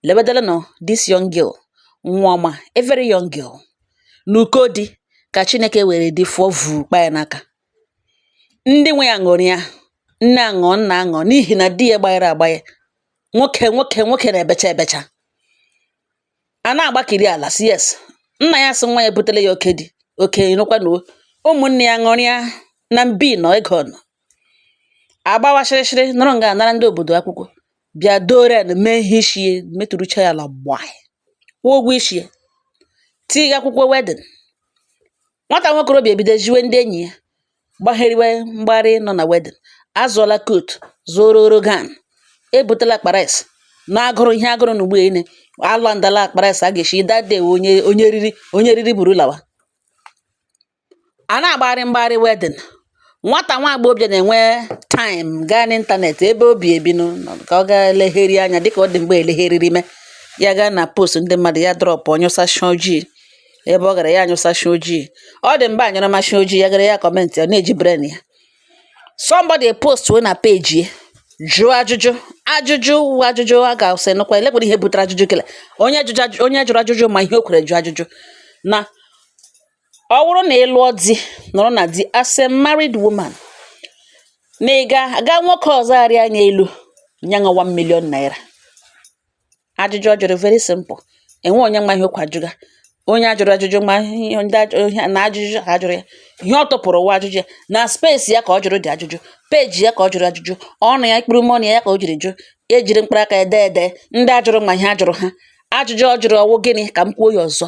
lebedaranụ this young girl nwa ọma a very young girl n'ụkọ di ka chineke were di fụọ vuu kpa ya n'aka ndị nwe ya ṅụrịa nne aṅụọ nna aṅụọ n'ihi na di ya gbanyere agbanye nwoke na-ebecha ebecha a na-agbakiri ala si yes nna ya sị nwa ya butele ya oke di oke nụkwa na ụmụnne ya ṅụrịa na mbi nọ ego nọ agbawa shịrịshịrị nọrọ nga anara ndị obodo akwụkwọ bịa doro ya na mee ihe isi ya metụrụcha ya ala gbaa kwụọ ụgwọ isi ya tiga akwụkwọ wedding nwata nwokorobịa ebido ziwe ndị enyi ya gbaheriwe mgbarị nọ na wedding azụọla coat zụoro orogan ebutela akpa rice na agụrụ ihe agụrụ na ugbo ine ala ndala akpa rice a ga-esi that day onye riri buru lawa à na-àgbarị mgbarị wedding nwatà nwa àgbọghọbịà nà-ènwe time gaa n'ịntànètị̀ ebe obì èbi nụ nọ̀ kà ọ gaa leghere anya dịkà ọ dị̀ m̀gbe èlegheriri me ya gaa nà post ndị mmadụ̀ ya drọpụ̀ ọ̀ nyụsasịa ojii ebe ọ gàrà ya nyụsasịa ojii ọ dị̀ m̀gbe à nyụrụmasịa ojii ya gàrà ya comment ọ̀ na-èji brain ya somebody post na page ya jụọ ajụjụ ajụjụ wụ ajụjụ a gà-àsị nụkwa èlekwere ihe bụtara ajụjụ kele onye jụjụ onye jụrụ ajụjụ mà ihe o kwèrè jụọ ajụjụ na ọ wụrụ na ị lụọ di nọrọ na di as a married woman na ị ga aga nwoke ọzọ arịa anya elu nye ṅa 1 million naira ajụjụ ọ jụrụ very simple enwe onye ma ihe kwa jụga onye a jụrụ ajụjụ ma ihe ndị ajụ- na ajụjụ ha jụrụ ya ihe ọ tụpụrụ wụ ajụjụ ya na space ya ka ọ jụrụ dị ajụjụ page ya ka ọ jụrụ ajụjụ ọnụ ya mkpụrụ ọnụ ya ka o jiri jụ ejiri mkpụrụ aka ya dee ede ndị a jụrụ ma ihe a jụrụ ha ajụjụ ọ jụrụ ọ wụ gịnị ka m kwuo ya ọzọ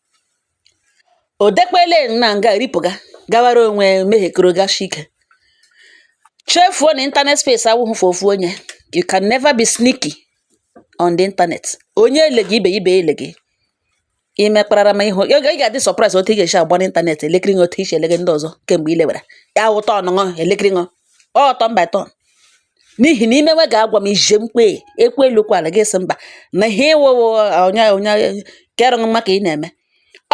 O dekwele na nga ripụga gawara onwe mehiekoro gashi ike. Chefuo na internet space awụghị for ofu onye. You can never be sneaky on the internet. Onye ele gị ibe ya ibe ya ele gị. I mekparara ma ịhụ ị ga- ị ga-adị surprise otu ị ga-esi agba n'ịntanetị elekiri ṅụ otu i si elege ndị ọzọ kemgbe i lewere. Ya wụ turn ṅụ elekiri ṅụ. ọ turn by turn n'ihi na imewe ga-agwa m ije mkpe ekwe elukwala gị sị mba na ihe ịwụwo onye onye kere ụwa ka ị na-eme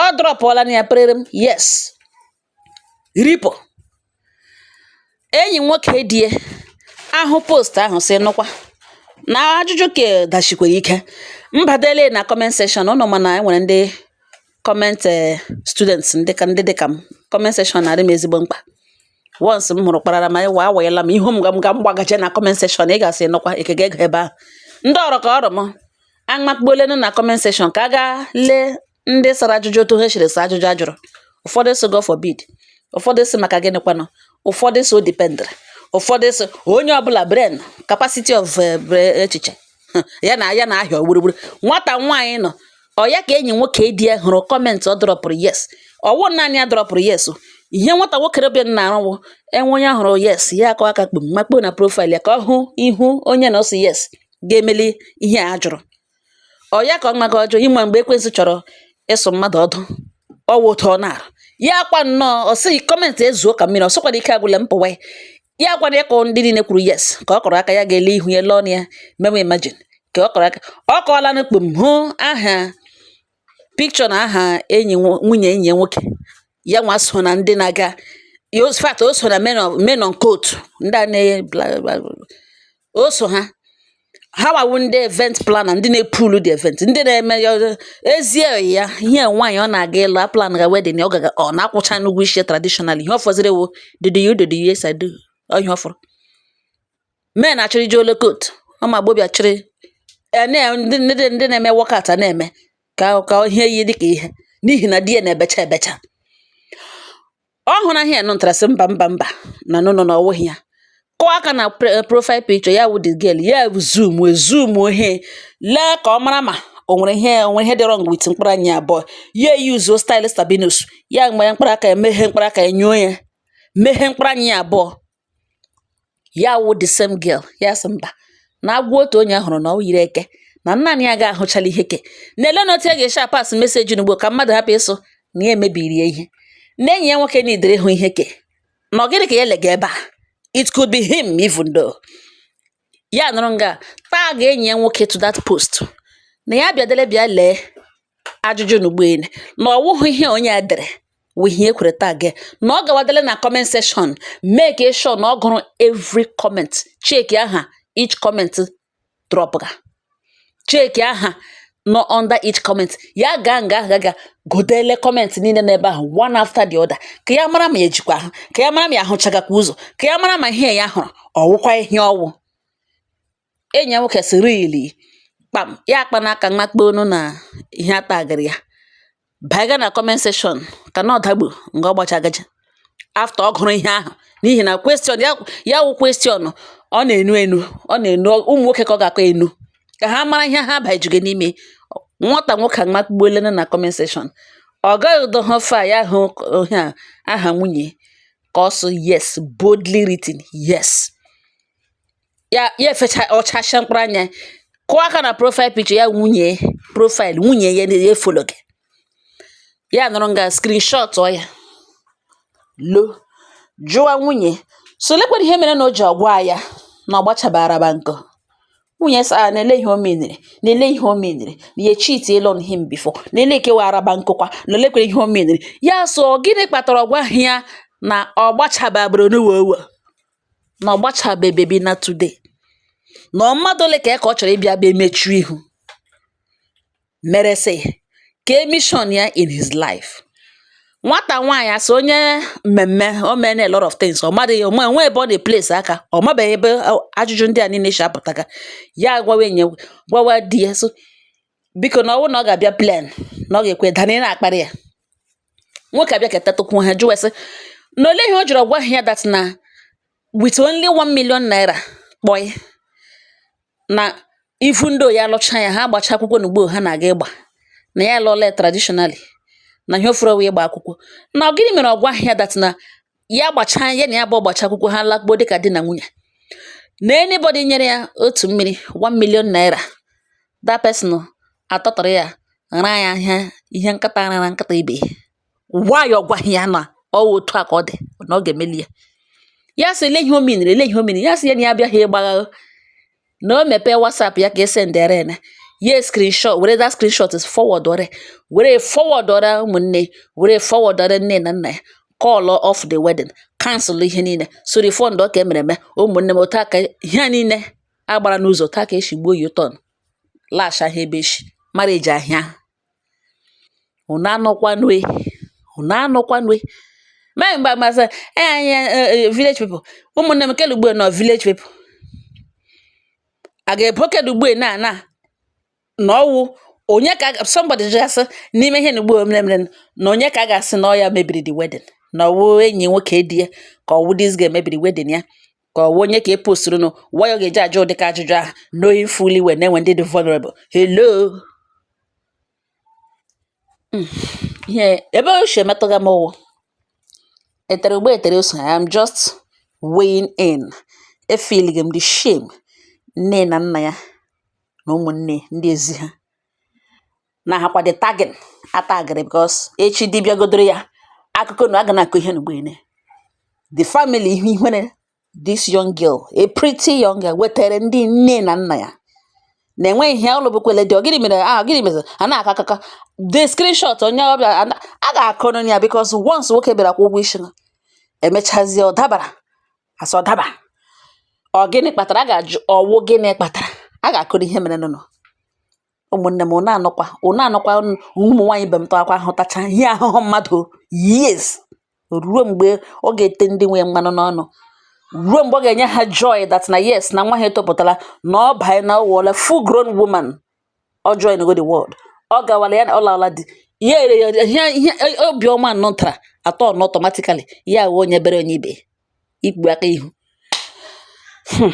ọ dropụọla na ya perere m yes ripo enyi nwoke di e ahụ post ahụ sị nụkwa na ajụjụ ke dashikwara ike mbadele na comment section unu ma na enwere ndị comment eh, students ndị ka ndị dịka m comment section na-adị m ezigbo mkpa once m hụrụ kparara ma wa awanyela m ihu m ga m ga m gbagaje na comment section ị ga-asị nụkwa e kega ego ebe ahụ ndị ọrụ ka ọrụ m amakpuolenu na comment section ka a gaa lee ndị sara ajụjụ otu ha siri sa ajụjụ a jụrụ ụfọdụ sị God forbid ụfọdụ sị maka gịnị kwanụ ụfọdụ sị ọ dependere ụfọdụ sị onye ọbụla brain capacity of eh, echiche ya na ya na ahịa gburugburu nwata nwaanyị nọ ọ ya ka enyi nwoke di ya hụrụ comment ọ dropụrụ yes ọwụ naanị ya dropụrụ yes ihe nwata nwoke rebe na arụwụ enwe onye hụrụ yes ya akọ aka kpum makpo na profile ya ka ọ hụ ihu onye na-asị yes ga-emeli ihe a jụrụ ọ ya ka ọ maga ọjọọ ị ma mgbe ekwensu chọrọ ịsụ mmadụ ọdụ ọwụ otu ọ na-arụ ya akwa nnọọ ọ sị comment ezuo ka mmiri ọ sịkwara ike agwụla m pụwa ya gwara ya ka ndị niile kwuru yes ka ọ kọrọ aka ya ga-ele ihu ya lee ya mewe imagine ka ọ kọrọ aka ọ kọọla na kpum hụ aha picture na aha enyi nwunye enyi ya nwoke ya nwa so na ndị na-aga fact o so na men on coat ndị a na-eye o so ha ha wa wụ ndị event planner ndị na-epulu the event ndị na-eme ya ezie ya ihe nwaanyị ọ na-aga ịlụ a plan ga wedding ọ gaga ọ na-akwụcha ụgwọ isi traditional ihe ọ fọziri wụ did you did yes I do ihe ọ fọrọ men achịrị ji ole coat ụmụ agbọbịa chịrị ndị na-eme wọkat na-eme ka ka ihe yi dịka ihe n'ihi na di ya na-ebecha ebecha ọ hụrụ aha ya nụtara sị mba mba mba na no no na ọ wụghị ya kụọ aka na profile picture ya wụ the girl ya zoom zoom ihe lee ka ọ mara ma o nwere ihe dị wrong with mkpụrụ anya abụọ ya eyuzuo style Sabinus ya were mkpụrụ aka ya meghee mkpụrụ aka ya nyuo ya meghee mkpụrụ anya ya abụọ ya wụ the same girl ya sị mba na agwọ otu onye hụrụ na ọ yiri eke na naanị ya ga-ahụchala ihe ke na-ele na otu ya ga-esi apass message n'ugbo ka mmadụ hapụ ịsụ na ya emebiri ya ihe na enyi ya nwoke na idere hụ ihe ke na ọ gịnị ka ya lega ebe a it could be him even though ya nọrọ nga tag enyi ya nwoke to that post na ya bịadele bịa lee ajụjụ n'ugbo elu na ọ wụghị ihe onye a dere wụ ihe ekwere tag ya na ọ gawadele na comment section make sure na ọ gụrụ every comment check aha each comment drop ga check aha nọ under each comment ya gaa nga ahụ ga gụọdele comment niile n'ebe ahụ one after the other ka ya mara ma ya jikwa ahụ ka ya mara ma ya ahụchagakwa ụzọ ka ya mara ma ihe ya hụrụ ọwụkwa ihe ọwụ enyi ya nwoke sị really kpam ya akpa n'aka mmakpa onu na ihe a tagịrị ya banye gaa na comment section ka na ọdagbu nga ọ gbachagaja after ọ gụrụ ihe ahụ n'ihi na question ya wụ question ọ na-enu enu ọ na-enu ụmụ nwoke ka ọ ga-aka enu ka ha mara ihe ha bajugo n'ime nwata nwoke amakpugbuolena na comment section ọ gaghị too far ya hụ aha nwunye ka ọ sụ yes boldly written yes ya ya efecha ọchacha mkpụrụ anya kụọ aka na profile picture ya nwunye profile nwunye ya ya efolo gị ya nọrọ nga screenshot ọ ya lọ jụwa nwunye sị olekwere ihe mere na o ji ọ gwaghị ya na ọ gbachabara ba nkọ nwunye sị na lee ihe o menere na lee ihe o menere na ya cheat on him before na-ele ekewa araba nkụkwa na olekwere ihe o menere ya so gịnị kpatara ọ gwaghị ya na ọ gbachababara n'ụwa ụwa na ọ gbachabeghị bebi na today na ọ mmadụ ole ka ya ka ọ chọrọ ịbịa bịa mechuo ihu mere sị ka ọ mission ya in his life nwata nwaanyị asị onye mmemme o mena a lot of things ọ madịghị onwe onwe ebe ọ na-place aka ọ mabeghị ebe ajụjụ ndị a niile si apụtaga ya agwawa enye gwawa di ya sị biko na ọ bụrụ na ọ ga-abịa plan na ọ ga-ekwe dana ị na-akparị ya nwoke abịa ketatụkwu ha jụwa sị na ole ihe o jiri ọ gwaghị ya that na with only 1 million naira kpọị na ifu ndị oyi alụcha ya ha agbacha akwụkwọ n'ugbu a ha na-aga ịgba na ya lụọla ya traditionally na ihe ọ fọrọ wụ ịgba akwụkwọ na ọ gịnị mere ọ gwaghị ya that na ya gbachaa ya na ya bụ a gbachaa akwụkwọ ha lakpuo dịka di na nwunye na anybody nyere ya otu mmiri 1 million naira that person atụtụrụ ya raa ya ihe nkịta rara nkịta ibe why ọ gwaghị ya na ọ wụ otu a ka ọ dị na ọ ga-emeli ya ya sị lee ihe o menere lee ihe o menere ya sị ya na ya abịaghị ịgbagha na o mepee WhatsApp ya ka esendere ya ya screenshot were that screenshot forwardọrọ were forwardọrọ ụmụnne were forwardọrọ nne na nna ya call off the wedding cancel ihe niile sị refundụọ nke e mere eme ụmụnne m otu a ka ihe niile gbara n'ụzọ otu a ka e si gbuo U-turn lasha ha ebe echi marriage ahụ unu anọkwanue unu anọkwanue mee mgbe agbasa anyị eh, eh, eh, village people ụmụnne m kedụ ugbu a na ọ village people a ga-ebo kedụ ugbu a na na na ọwụ onye ka somebody ga-asị n'ime ihe n'ugbu a mere mere na onye ka a ga-asị na ọ ya mebiri the wedding na ọwụ enyi nwoke di ya ka ọwụ this girl mebiri wedding ya ka ọwụ onye nke postụrụnụ why ọ ga-eji ajụ ụdịka ajụjụ ahụ knowing fully well na e nwe ndị dị vulnerable hello hmm. ihe ebe o si emetụga m wụ e tere ụgba e tere ose I am just weighing in efeeling m the shame nne na nna ya na ụmụnne ndị ezi ha na ha kwa the tagging a tagịrị because echi di bịagodoro ya akụkọ na a ga na-akọ ihe n'ugbo ene the family ihe ihere this young girl a pretty young girl wetara ndị nne na nna ya na enweghị ihe ụlọ bụkwele dị gịnị mere ah gịnị mere a na-akọ akụkọ the screenshot onye ọbịa a na- a ga-akọ n'onye ya because once nwoke bịara kwụọ ụgwọ isi ha emechazie ọ dabara a sị ọ daba ọ gịnị kpatara a ga-ajụ ọwụ gịnị kpatara a ga-akọrọ ihe mere nụnụ ụmụnne m ụnụ anọkwa ụnụ anọkwa ụmụ nwaanyị ibe m tọakwa ahụtacha ihe ahụhụ mmadụ yes ruo mgbe ọ ga-ete ndị nwee mmanụ n'ọnụ ruo mgbe ọ ga-enye ha joy that na yes na nwa ha etopụtala na ọ banye na ọwụọla full grown woman ọ join go the world ọ gawala ya na ọ lala di ya ere ya ihe ihe obiọma nọ tara atọ na automatically ya wee onye bere onye ibe ikpu aka ihu hmm.